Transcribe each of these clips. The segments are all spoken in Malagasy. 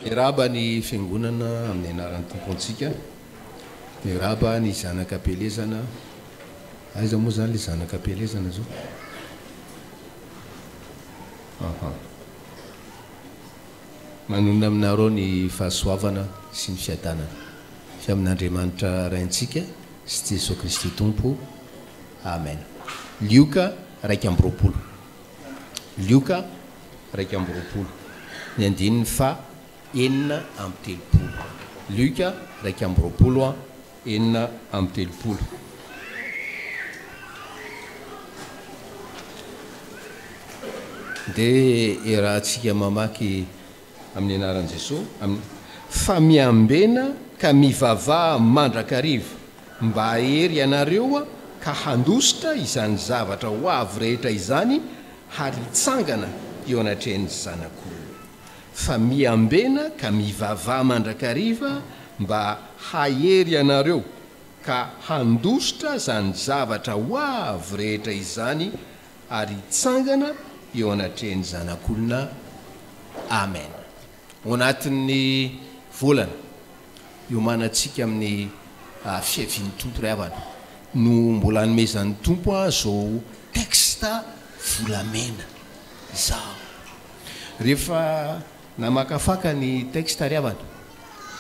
Miarahaba ny Fiangonana amin'ny anaran'ny Tompontsika. Miarahaba ny zanaka am-pielezana. Aiza moa izany ilay zanaka am-pielezana izao? Aha. Manonona aminareo ny fahasoavana sy ny fiadanana avy amin'Andriamanitra Raintsika sy Jesoa Kristy Tompo. Amen. Lioka iraika amby roapolo. Lioka iraika amby roapolo, ny andininy faha enina amby telopolo. Lioka iraika amby roapolo a enina amby telopolo. Dia iarahantsika mamaky. Amin'ny anaran'i Jesoa amin. Fa miambena ka mivavaha mandrakariva mba hahery ianareo ka handositra izany zavatra ho avy rehetra izany ary hitsangana eo anatrehan'ny Zanak'Olona. Fa miambena ka mivavaha mandrakariva mba hahery ianareo ka handositra izany zavatra ho avy rehetra izany ary hitsangana eo anatrehan'ny Zanak'olona. Amen. Ao anatin'ny volana, iomanantsika amin'ny fiavian'ny Tompo ry havana, no mbola hanomezan'ny Tompo ahy izao texte volamena izao. Rehefa namakafaka ny texte ry havana,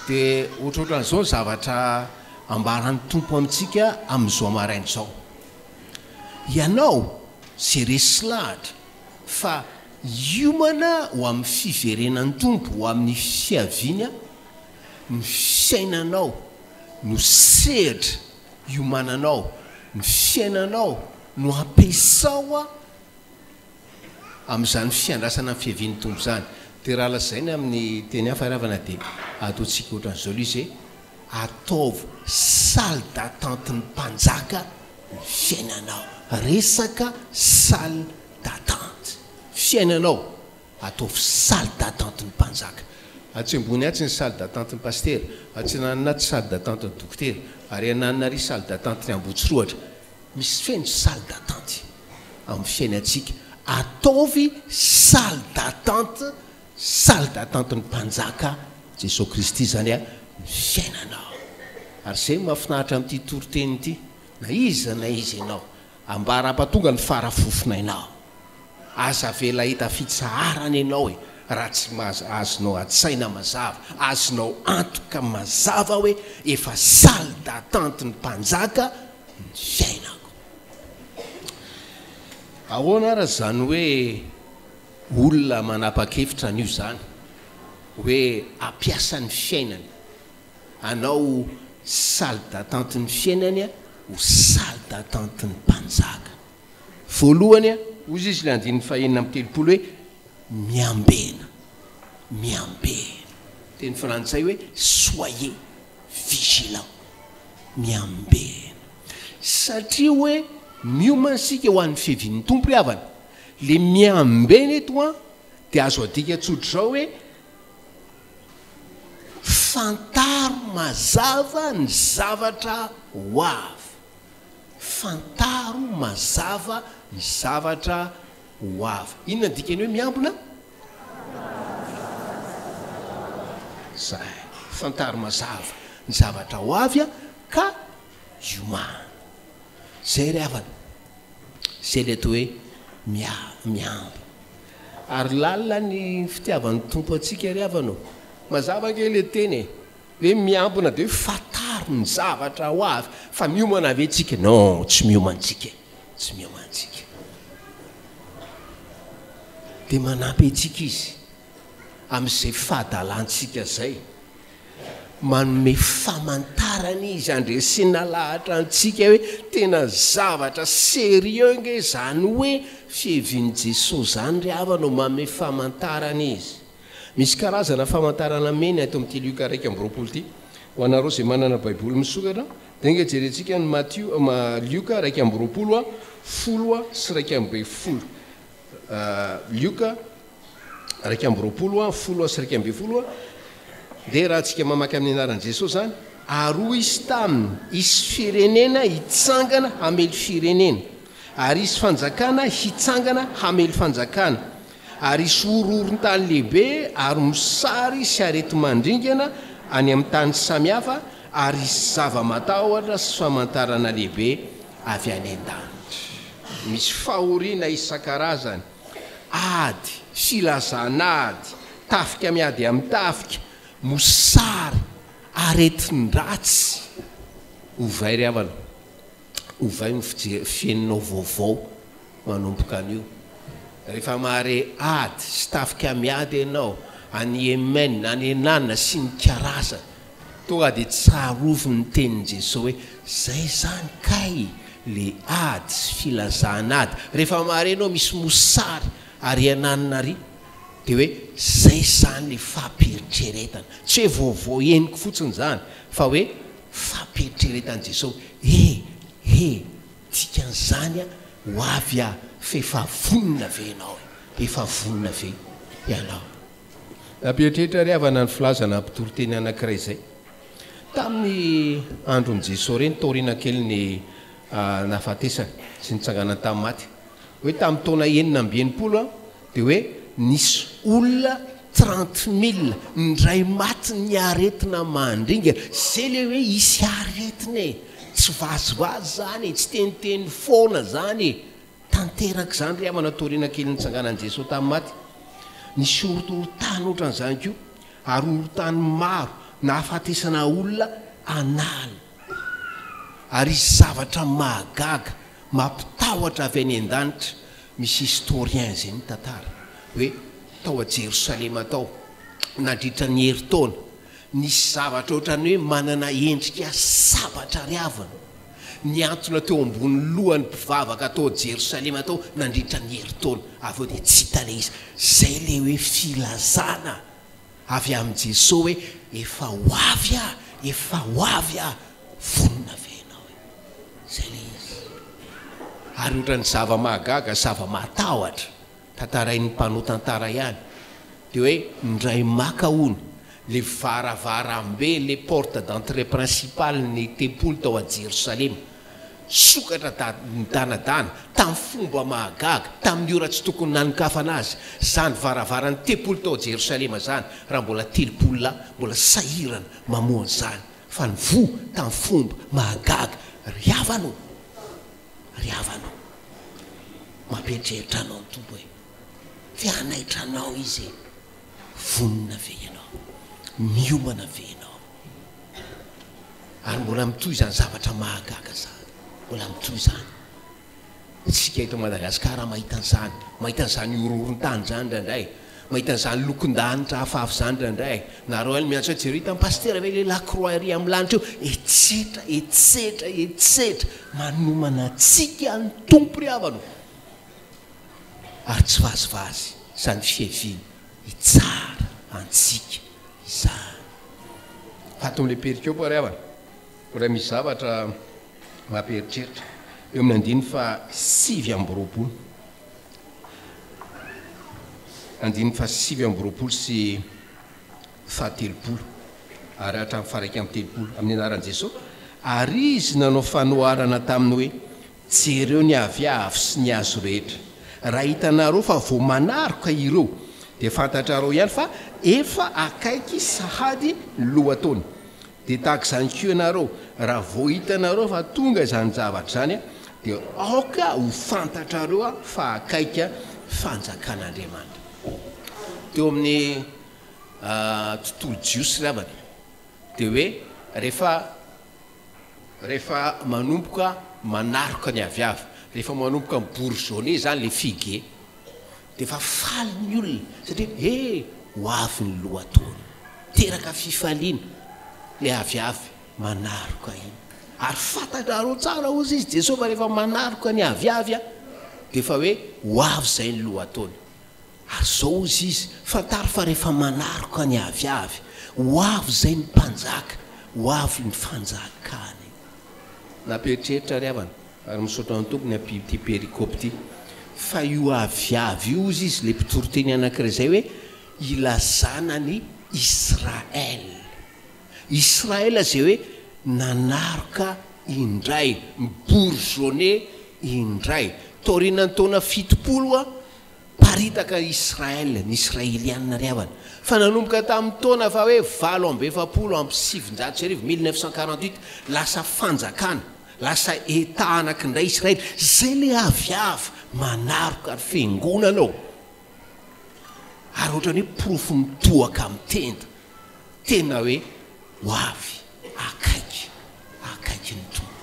dia ohatrohatran'izao ny zavatra ambaran'ny Tompo amintsika amin'izao maraina izao. Ianao ze resy lahatra fa hiomana ho amin'ny fiverenan'ny Tompo ho amin'ny fiaviany an, ny fiainanao no sehatra hiomananao, ny fiainanao no ampiasao an, Amin'izany fiandrasana ny fiavian'ny Tompo izany, dia raha lazaina amin'ny teny hafa ary havana, dia ataontsika ohatran'izao ilay izy hoe, Ataovy salle d'attente ny mpanjaka ny fiainanao. Resaka salle d'attente. Fiainanao, ataovy salle d'attente ny mpanjaka. Atsy ambony atsy ny salle d'attente ny pasitera, atsinanana atsy salle d'attente ny dokotera, ary ananina ary salle d'attente ny Ambohitsorohatra. Misy feno salle d'attente amin'ny fiainantsika, ataovy salle d'attente, salle d'attente ny mpanjaka Jesoa Kristy izany a, ny fiainanao. Ary zay no mahafinaritra amin'ity toriteny ity, na iza na iza ianao, ambara ampatonga ny fara fofonainao. Aza avela hita fitsaharana ianao e raha tsy maza, azonao an-tsaina mazava, azonao antoka mazava hoe efa salle d'attente ny mpanjaka ny fiainako. Ahoana ary izany hoe olona manapa-kevitra an'io izany hoe hampiasa ny fiainany hanao salle d'attente ny fiainany ho salle d'attente ny mpanjaka. Voalohany, hoy izy ilay andininy fahenina amby telopolo hoe, Miambena, miambena. Teny frantsay hoe soyez vigilant, miambena. Satria hoe miomana isika ho an'ny fiavian'ny Tompo ry havana. Ilay miambena eto an, dia azo adika tsotra izao hoe, fantaro mazava ny zavatra ho avy. Fantaro mazava ny zavatra ho avy. Inona ny dikan'ny hoe miambina? Zay. Fantaro mazava ny zavatra ho avy ka iomana. Zay ry havana. Zay ilay atao hoe miambina. Ary lalina ny fitiavan'ny Tompo antsika ry havana ô. Mazava ange ilay teny e. Hoe miambina dia hoe fantaro ny zavatra ho avy fa miomana ve tsika? Non, tsy miomana tsika e! Tsy miomana tsika. Dia manampy antsika Izy amin'izay fahadalantsika zay. Manome famantarana Izy, andresena lahatra antsika hoe tena zavatra sérieux nge zany hoe fihevin'i Jesosy zany ry havana o! Manome famantarana Izy. Misy karazana famantarana mena eto amin'ity Lioka iraika amby roapolo ity. Ho anareo izay manana Baiboly misokatra, dia enga jerentsika ny Matio, Lioka iraika amby roapolo, folo sy iraika ambin'ny folo. Lioka iraika amby roapolo, folo sy iraika ambin'ny folo. Dia raha tsika mamaky amin'ny anaran'i Jesosy izany, ary hoy izy taminy, hisy firenena hitsangana hamely firenena, ary hisy fanjakana hitsangana hamely fanjakana. ary hisy horohoron-tany lehibe ary mosary sy areti-mandringana any amin'ny tany samihafa ary hisy zava-matahotra sy famantarana lehibe avy any an-danitra. Misy fahoriana isan-karazany, ady sy lazan'ady, tafika miady amin'ny tafika, mosary, aretin-dratsy ho very havana. Ovay ny fijery fieninao vaovao manomboka anio. Rehefa mahare ady sy tafika miady ianao any Yemen, any Henan sy ny karazany, tonga dia tsarovy ny tenin'i Jesoa hoe, Izay izany kay le ady sy filazan'ady. Rehefa mahare ianao misy mosary ary Henan ary, dia hoe, Izay izany le fampiheritreretana. Tsy hoe vaovao henoko fotsiny izany, fa hoe, Fampieritreretan'i Jesosy, He! He! Dikan'izany a, ho avy a, f'efa vonona ve ianao e? Efa vonona ve ianao? Nampieritreritra ry havana ny filaza na mpitoriteny anankiray izay. Tamin'ny andron'i Jesosy ireny, taoriana kely ny nahafatesany sy nitsanganany tamin'ny maty, hoe tamin'ny taona enina amby enimpolo, Dia hoe nisy olona trente mille indray maty ny aretina mandringa, zay le hoe hisy aretina e, tsy vazivazy zany e, tsy teniteny foana zany e, tanteraka zany ry havana toriana kely nitsanganan'i Jesoa tamin'ny maty, nisy horontorontany ohatran'izany koa ary horontany maro nahafatesana olona an'ala ary hisy zavatra mahagaga mampitahotra avy any an-danitra, Misy historien izay mitantara hoe tao a Jerosalema tao, nandritra ny herintaona, nisy zavatra ohatran'ny hoe manana endrika sabatra ary avona, nihantona teo ambonin'ny lohan'ny mpivavaka tao Jerosalema tao nandritra ny herintaona. Avy eo dia tsy hita ilay izy. Izay ilay hoe filazana. Avy amin'i Jesoa hoe efa ho avy aho, efa ho avy aho, vonona ve ianao e? Izay ilay izy. Ary ohatran'ny zava-mahagaga, zava-matahotra tantarain'ny mpanao tantara ihany dia hoe indray maka hono ilay varavarambe, le porte d'entrée principale-ny tempoly tao a Jerosalema. Nisokatra daholo ny danadana, tamin'ny fomba mahagaga, tamin'ny ora tsy tokony nanokafana azy, izany varavaran'ny tempoly tao Jerosalema izany, raha mbola telopolo lahy mbola sahirana mamoha an'izany, fa nivoha tamin'ny fomba mahagaga. Ry havana ô! Ry havana ô! Mampieritreritra anao ny Tompo e! Fe hanaitra anao Izy e! Vonona ve ianao? Miomana ve ianao? Ary mbola mitohy izany zavatra mahagaga izany. Mbola mitohy izany. Isika eto Madagasikara mahita an'izany. Mahita an'izany horohoron-tany izany indraindray. Mahita an'izany lokon-danitra hafahafa izany indraindray. Nareo any miantso hoe jereo hitan'ny pasitera ve ilay la croix ery amin'ny lanitra eo? Etsetra, etsetra, etsetra. Manomana antsika ny Tompo ry havana ô! ary tsy vazivazy izany fiheviana hitsara antsika izany. Ato amin'ilay perikopa ary havana, mbola misy zavatra mampieritreritra, eo amin'ny andininy fahasivy amby roapolo, andininy fahasivy amby roapolo sy fahatelopolo ary hatramin'ny faharaika amby telopolo, amin'ny anaran'i Jesoa, ary Izy nanao fanoharana taminy hoe. Jereo ny aviavy sy ny hazo rehetra. Raha hitanareo fa vao manaroka ireo, dia fantatrareo ihany fa efa akaiky sahady ny lohataona. Dia tahaka izany koa ianareo, raha vao hitanareo fa tonga izany zavatra izany, dia aoka ho fantatrareo fa akaiky fanjakan'Andriamanitra. Teo amin'ny tontolo jiosy ry havana, dia hoe rehefa. Rehefa manomboka manaroka ny aviavy, rehefa manomboka mi-bourgeonner zany le figue, de efa faly ny olona satria he! ho avy ny lohataona. Teraka fifaliana le aviavy manaroka iny. Ary fantatrareo tsara hozy izy Jesosy fa rehefa manaroka ny aviavy a, de efa hoe ho avy zay ny lohataona. Ary izao hozy izy, Fantaro fa rehefa manaroka ny aviavy, ho avy izay ny mpanjaka, ho avy ny fanjakany. Nampieritreritra ry havana, ary misaotra ny Tompo ny amin'ity perikopy ity. Fa io aviavy io, hozy izy, ilay mpitoriteny anankiray izay hoe ilazana an'i Israel. Israel izay hoe nanaroka indray, mi-bourgeonner indray. Taorianan'ny taona fitopolo, Niparitaka i Israel, ny Israeliana ry havana, fa nanomboka tamin'ny taona faha hoe valo amby efapolo amby sivinjato sy arivo, mille neuf cent quarante-huit, lasa fanjakana, lasa Etat anakindray Israel, izay ilay avy avy manaroka ary fiangonana ao, ary ohatran'ny hoe porofo mitohaka amin'ny tenda, tena hoe ho avy akaiky, akaiky ny Tompo.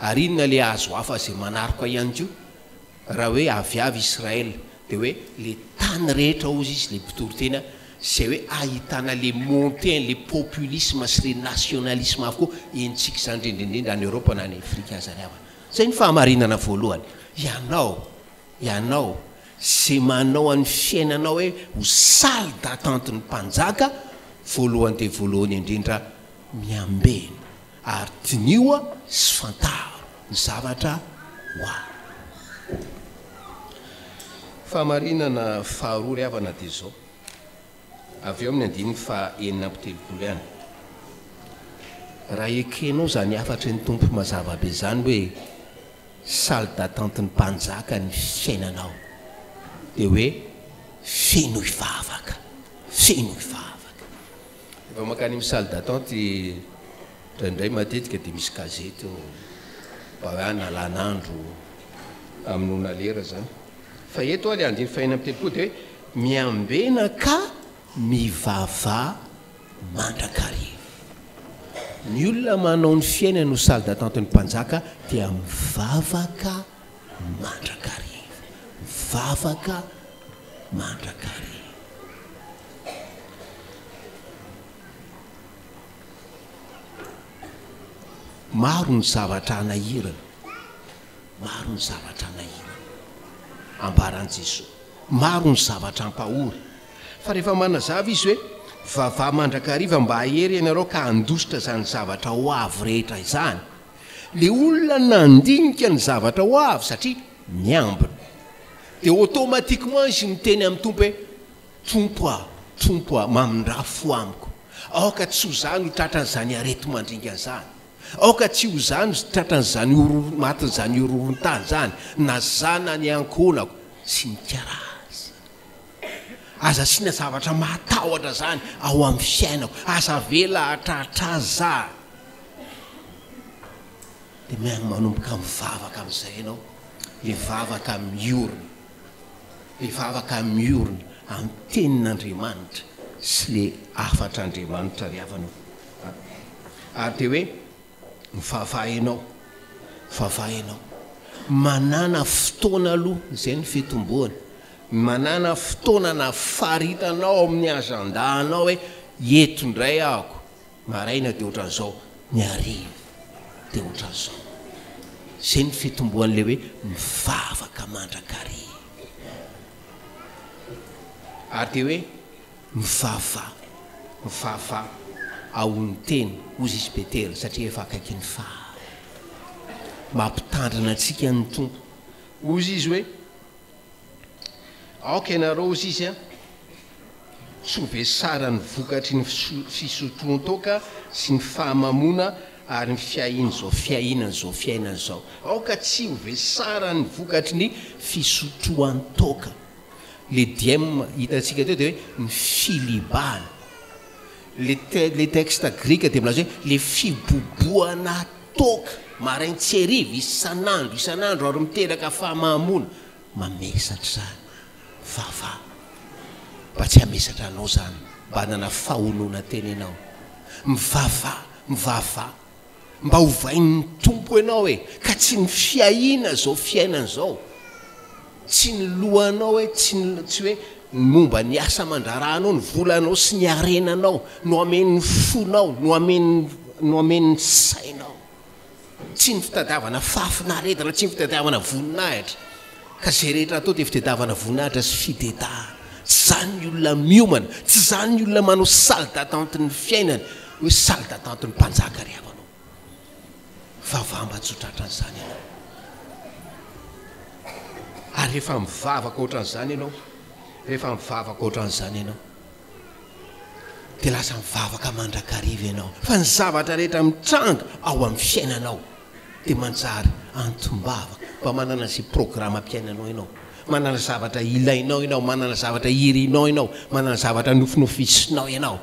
Ary inona ilay hazo hafa izay manaroka ihany koa? Raha hoe aviavy Israël dia hoe le tany rehetra hozy izy le mpitory tena zay hoe ahitana le montée le populisme sy le nationalisme avokoa henontsika izany indrindra indrindra any Europe na any Afrique aza ry havana zay ny fahamarinana voalohany ianao ianao zay manao an'ny fiainanao hoe ho salle d'attente ny mpanjaka voalohany dia voalohany indrindra miambena Ary diniho sy fantaro ny zavatra ho avy. Fahamarinana faharoa ry havana dia izao, avy eo amin'ny andininy fahenina amby telopolo ihany, Raha ekenao izany hafatry ny Tompo mazava be izany hoe salle d'attente ny mpanjaka ny fiainanao dia hoe fenoy vavaka, fenoy vavaka. Rehefa mankany amin'ny salle d'attente indraindray matetika dia misy gazety ao mba hoe hanalana andro amin'ny noana lera izany. Fa eto ilay andiany fahenina amby telopolo dia hoe miambena ka mivava mandrakariva. Ny olona manao ny fiainany ho salle d'attente-n'ny mpanjaka dia mivavaka mandrakariva, vavaka mandrakariva. Maro ny zavatra hanahirana, maro ny zavatra hanahirana, ambaran'i Jesoa, maro ny zavatra hampahory, fa rehefa manazava Izy hoe, vavaha mandrakariva mba hahery ianareo ka handositra izany zavatra ho avy rehetra izany, Le olona nandinika ny zavatra ho avy satria miambina. De automatiquement izy miteny amin'ny Tompo hoe, Tompo a, Tompo a, mamindrà fo amiko. Aoka tsy ho za no tratran'izany areti-mandringa zany. Aoka tsy ho za no tratran'izany horohoro, matin'izany horohoron-tany zany, na za na ny ankohonako sy ny karazany. Aza asiana zavatra mahatahotra zany ao am fiainako aza avela hatratra azy za de manomboka mivavaka amizay ianao de vavaka miorina de vavaka miorina am tenin'Andriamanitra sy le hafatr'Andriamanitra ry havana o ary de hoe Mivavaha enao, mivavaha enao. Manàna fotoana aloha, izay ny fitomboana. Manàna fotoana na faritanao ao amin'ny agenda anao hoe eto indray ahako, maraina dia ohatran'izao, ny hariva dia ohatran'izao. Izay ny fitomboan'ilay hoe mivavaka mandrakariva. Ary dia hoe. Mifafa, mifafa ao ny teny, hoy Zisy Betela, satria efa akaiky ny faha. Mampitandrina antsika ny Tompo. Hoy Izy hoe, Aoka ianareo, hoy Izy a, tsy ho vesara ny vokatry ny fisotroan-toaka sy ny fahamamoana ary ny fiahian'izao fiahiana an'izao fiainana izao. Aoka tsy ho vesara ny vokatry ny fisotroan-toaka. Le diem hitantsika teo dia hoe ny filibana. Le le texte grika dia milaza hoe le fibobohana toaka marain tsy hariva isan'andro isan'andro ary miteraka fahamahamoana. Mamesatra izany vava mba tsy hamesatra anao izany mba hanana fahonona tena ianao. Mivava mivava. Mba ovain'ny Tompo ianao e, ka tsy ny fiahiana izao fiainana izao, tsy ny lohanao e, tsy ny, tsy hoe ny momba ny asa aman-draharahanao, ny volanao sy ny harenanao no hamen'ny fonao, no hamen'ny, no hamen'ny sainao. Tsy ny fitadiavana fahafinaretana, tsy ny fitadiavana voninahitra. Ka izay rehetra atao dia fitedavana voninahitra sy fidedahana. Tsy izany ny olona miomana, tsy izany ny olona manao salle d'attente ny fiainany hoe salle d'attente ny mpanjaka ry havanao. Fa vamba tsy ho tratran'izany ianao. Ary rehefa mivavaka ohatran'izany ianao, rehefa mivavaka ohatran'izany ianao. dia lasa mivavaka mandrakariva ianao fa ny zavatra rehetra mitranga ao amin'ny fiainanao dia manjary antom-bavaka, mba manana izay programam-piainanao ianao, manana zavatra ilainao ianao, manana zavatra irinao ianao, manana zavatra nofinofisinao ianao,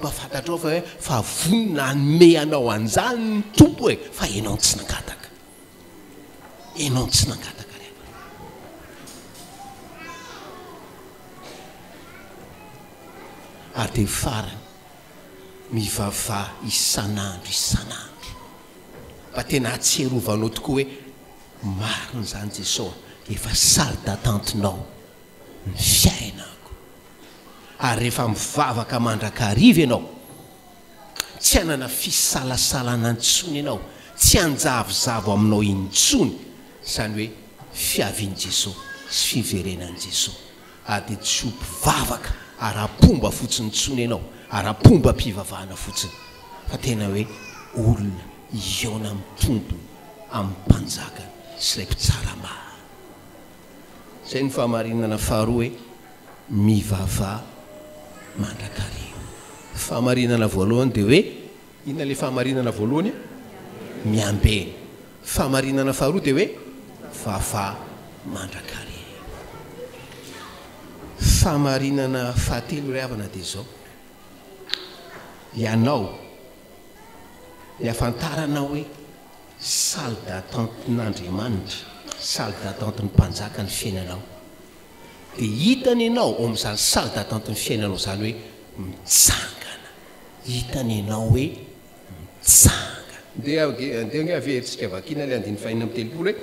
mba fantatrao fa hoe fa vonona hanome anao an'izany ny Tompo e, fa ianao no tsy nangataka. Enao tsy nangataka ry havana. Ary dia farany, mivavà isan'andro isan'andro, mba tena hahatsiarovanao tokoa hoe marina izany Jeso a, efa salle d'attente-nao ny fiainako. Ary rehefa mivavaka mandrakariva ianao, Tsy hanana fisalasalana intsony ianao, tsy hanjavozavo aminao intsony izany hoe fiavian'i Jesoa sy fiverenan'i Jesoa, ary dia tsy ho mpivavaka ara-pomba fotsiny intsony ianao, ara-pombam-pivavahana fotsiny, fa tena hoe olona hihaona amin'ny Tompony, amin'ny Mpanjakany sy ilay Mpitsara marina. Izay no fahamarinana faharoa hoe mivava mandrakariva. Fahamarinana voalohany dia hoe, inona ilay fahamarinana voalohany a? Miambena. Fahamarinana faharoa dia hoe vava mandrakariva. Fahamarinana fahatelo ry havana dia izao, ianao, ny ahafantaranao hoe. Salle d'attente n'Andriamanitra, salle d'attente ny mpanjaka ny fiainanao. Dia hitany ianao ao amin'izany salle d'attente ny fiainanao izany hoe mitsangana. Hitany ianao hoe mitsangana. Ndeha ndeha ange avy eo tsika vakina ilay andininy fahenina amby telopolo hoe,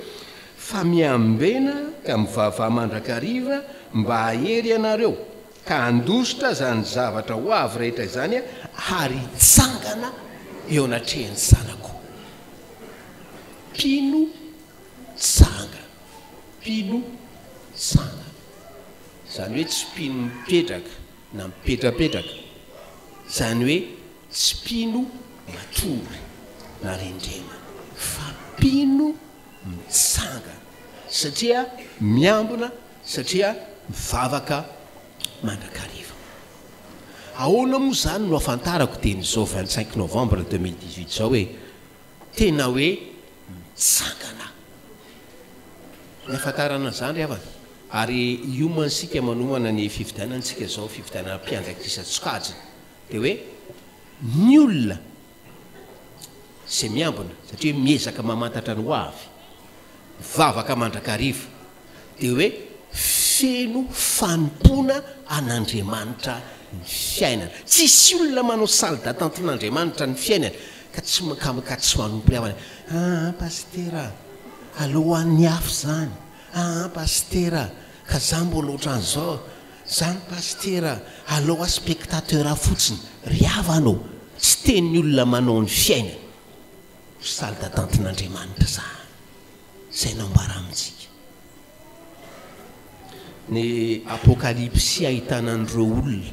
Fa miambena ka mivavaha mandrakariva mba hahery ianareo, ka handositra izany zavatra ho avy rehetra izany ary hitsangana eo anatrehan'ny zanako. Mpino tsanga, mpino tsanga, izany hoe tsy mpino mipetraka na mipetrapetraka, izany hoe tsy mpino matory na rendrena, fa mpino mitsangana, satria miambina Satria mivavaka mandrakariva. Ahoana moa izany no ahafantarako dia an'izao vingt cinq novembre deux mille dix huit izao hoe tena hoe mitsangana aho? Ny ahafantarana an'izany ry havana, ary hiomantsika manohana ny fifidianantsika izao, fifidianana mpiandraikitra isan-tsokajiny, dia hoe ny olona izay miambina, satria miezaka mamantatra ny hoavy, mivavaka mandrakariva, dia hoe feno fanompoana an'Andriamanitra ny fiainana. Tsisy olona manao salle d'attente n'Andriamanitra ny fiainany ka tsy ka tsy manompo ny havany. Aa Pasitera a! aleo ho an'ny hafa izany. Aa Pasitera a! ka za mbola ohatran'izao. Zany Pasitera a! aleo ho ahy spectateur fotsiny. Ry havana ô! tsy tenin'ny olona manao ny fiainany ho salle d'attente n'Andriamanitra izany. izay nambara amintsika ny Apokalypsy ahitana an'ireo olona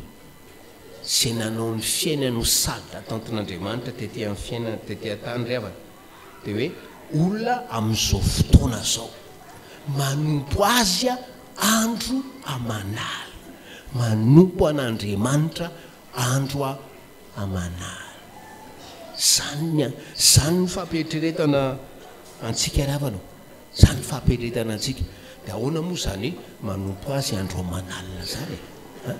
izay nanao ny fiainany ho sazy atantin'Andriamanitra tety amin'ny fiainana tety an-tany ry havana dia hoe olona amin'izao fotoana izao manompo Azy andro aman'alina manompo an'Andriamanitra andro aman'ala. Zany ny an. Zany ny fampieritreretana antsika ry havana o. Zany ny fampieritreretana antsika. De ahoana moa zany manompo azy andro aman'alina zany e? An?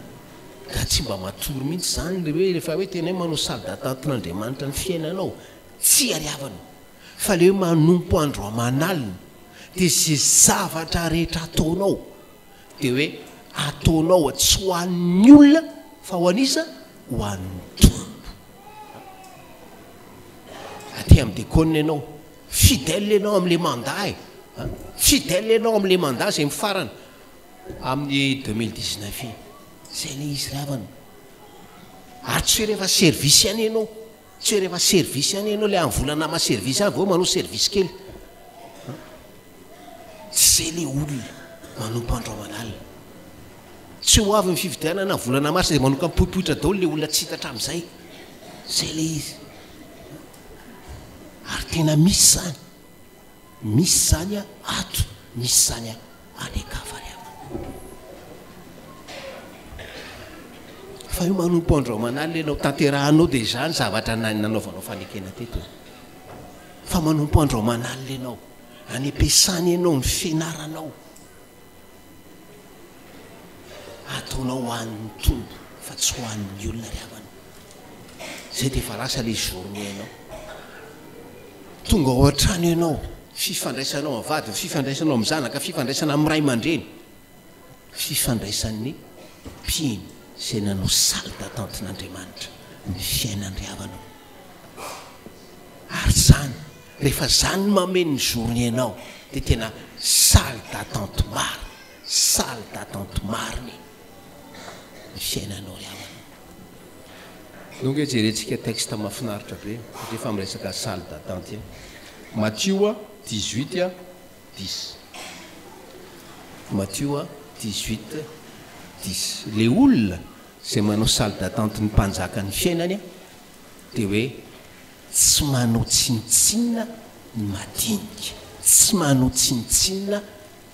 Nga tsy mba matory mihitsy zany ry hoe refa hoe tena hoe manao salle d'attente n'Andriamanitra ny fiainanao? Tsia ry havana. Fa le hoe manompo andro aman'alina de ze zavatra rehetra ataonao Dia hoe ataonao a tsy ho an'ny olona fa ho an'iza? Ho an'ny Tompo. Aty amin'ny dekôna ianao, fidèle ianao amin'ilay mandat e, fidèle ianao amin'ilay mandat izay mifarana amin'ny 2019 iny. Izay ilay izy ry havana. Ary tsy hoe rehefa service ihany ianao. Tsy hoe rehefa service ihany enao le amvolana ama service any vao manao service kely an! Tsy zay le olona manompo andro aman'alina. Tsy ho avy ny fifidianana volana mars de manoka mipoipoitra daolo le olona tsy hita hatramizay. Zay le izy. Ary tena misy zany. Misy zany a ato misy zany a any ankavanana. Fa io manompo andro aman'alina ianao tanterahanao dia izany zavatra nanaovanao fanekena teto e. Fa manompo andro aman'alina ianao, any am-piasana ianao, ny fianaranao, Ataonao ho an'ny Tompo fa tsy ho an'ny olona ry havana. Zay dia efa lasa le journée nao. Tonga ao an-trano ianao, fifandraisanao amin'ny vadiny, fifandraisanao amin'ny zanaka, fifandraisana amin'ny ray aman-dreny, fifandraisan'ny mpino izay nanao salle d'attente-n'Andriamanitra ny fiainan-dry havanao. Ary izany, rehefa izany no mameno ny zorony ianao, dia tena salle d'attente marina, salle d'attente marina ny fiainanao ry havana. Eo ange jerentsika texte mahafinaritra be satria efa miresaka salle d'attente iny. Matio a, dix huit a, dix. Matio a, dix huit, dix. Ilay olona Izay manao salle d'attente ny mpanjaka ny fiainany dia hoe tsy manao tsinontsinona ny madinika, tsy manao tsinontsinona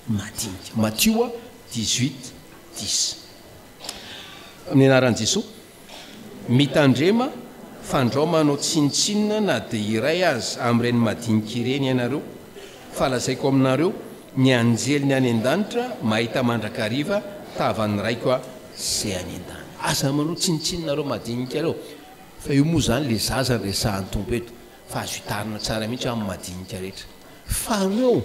ny madinika. Matio dix huit dix. Amin'ny anaran'i Jesoa, mitandrema fa ndrao manao tsinontsinona na dia iray aza amin'ireny madinika ireny ianareo, fa lazaiko aminareo, Ny anjeliny any an-danitra mahita mandrakariva tavan'ny Raiko a se any an-danitra. Aza manao tsinontsinona nareo madinika reo fa io moa zany le zaza resahan'ny Tompo eto fa azo itarina tsara mihitsy amin'ny madinika rehetra fa reo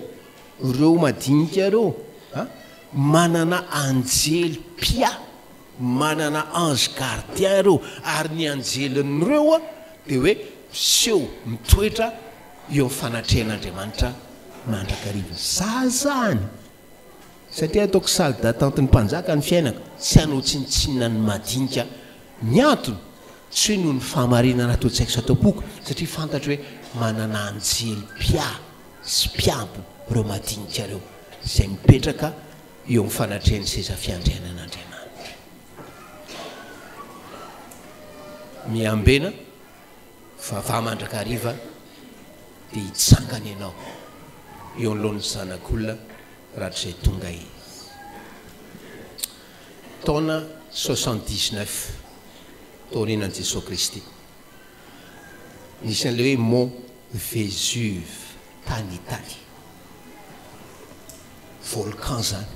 reo madinika reo a manana anjely mpia manana ange gardien reo ary ny anjelin'reo a de hoe miseho mitoetra eo amin'ny fanatrehan'Andriamanitra mandrakariva. Za zany! Satria ataoko salle d'attente ny mpanjaka ny fiainako, tsy hanao tsinontsinona ny madinika. Ny antony, tsy hoe noho ny fahamarinana atao tsy haiko sy ataom-poko, satria fantatro hoe manana anjely mpiahy sy mpiampy ireo madinika ireo, izay mipetraka eo amin'ny fanatrehan'ny seza fiandrianan'Andriamanitra. Miambena. Vavaha mandrakariva dia hitsangana ianao eo anoloan'ny Zanak'olona rahatrizay tonga Izy. Taona soixante dix neuf taorianan'i Jesoa Kristy, nisy an'ilay hoe Mont Vésuve tany Italy. Volcan izany.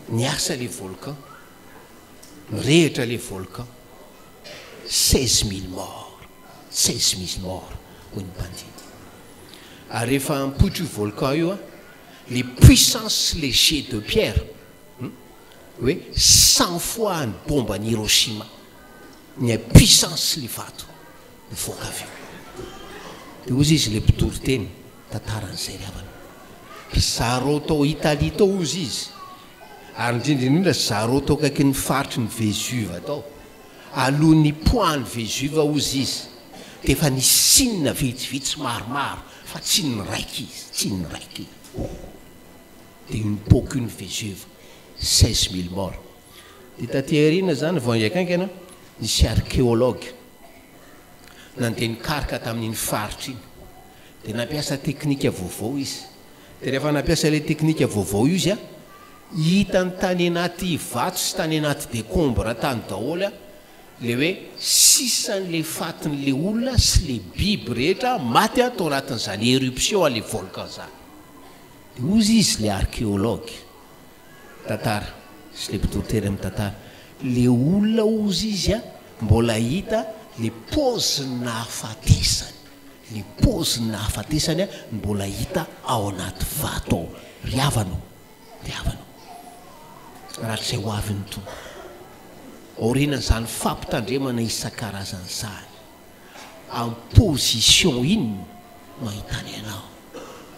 Niasa ilay volcan, nirehitra ilay volcan. Seize mille morts, seize mille morts, hoy ny mpandidy. Ary rehefa ampoitra io volcan io, le puissance le jet de pierre, hoe cent fois ny bomba an'i Hiroshima, ny puissance le vato mivoaka avy eo. De ozy izy le mpitoriteny, tantara an'izay ry havana. Ry zareo tao Italie tao ozy izy, ary indrindra indrindra zareo tao akaikin'ny faritry ny Vesuve tao, aloha nipoahan'ny Vesuve hozy izy dia efa nisinina vitsivitsy maromaro fa tsy niraika izy, tsy niraika izy, dia une pocune Vesuve, seize mille morts. Dia taty aoriana izany vao hiankaikana nisy archéologue nandeha nikaroka tamin'iny faritra iny, dia nampiasa teknika vaovao izy, Dia rehefa nampiasa ilay teknika vaovao io izy, hitany tany anaty vato sy tany anaty decombres tany daholo ilay hoe sisan'ilay fatin'ilay olona sy ilay biby rehetra maty tao anatin'izany éruption an'ilay volcan izany. Dia hozy izy ilay archéologue tantara sy ilay mpitory teny amin'ny tantara, ilay olona hozy izy mbola hita ilay paozin'ny nahafatesany. Ny pôzin'ny nahafatesany no mbola hita ao anaty vato ao. Ry havana ô, ry havana ô, rak'izay ho avy ny Tompo, aorianan'izany fampitandremana isan-karazany izany, am position inona no ahitanay anao?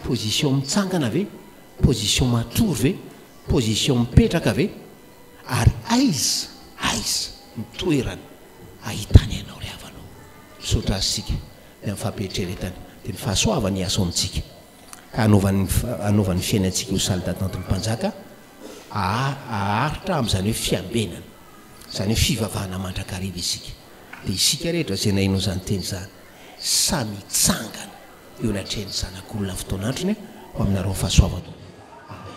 Position mitsangana ve? Position matory ve? Position mipetraka ve? Ary aiza, aiza ny toerana Ahitany ianao ry havana ô. Misaotra Azy isika dia amin'ny fampieritreretany dia ny fahasoavany hiasa ao amintsika ka hanaovany hanaovany ny fiainantsika ho salle d'attente ny Mpanjaka haharitra amin'izany hoe fiambenana, izany hoe fivavahana mandrakariva isika. Dia isika rehetra izay naheno an'izany teny izany samy hitsangana eo anatrehan'ny Zanak'olona amin'ny fotoan'androny ho aminareo ny fahasoavan-tompo. Amena.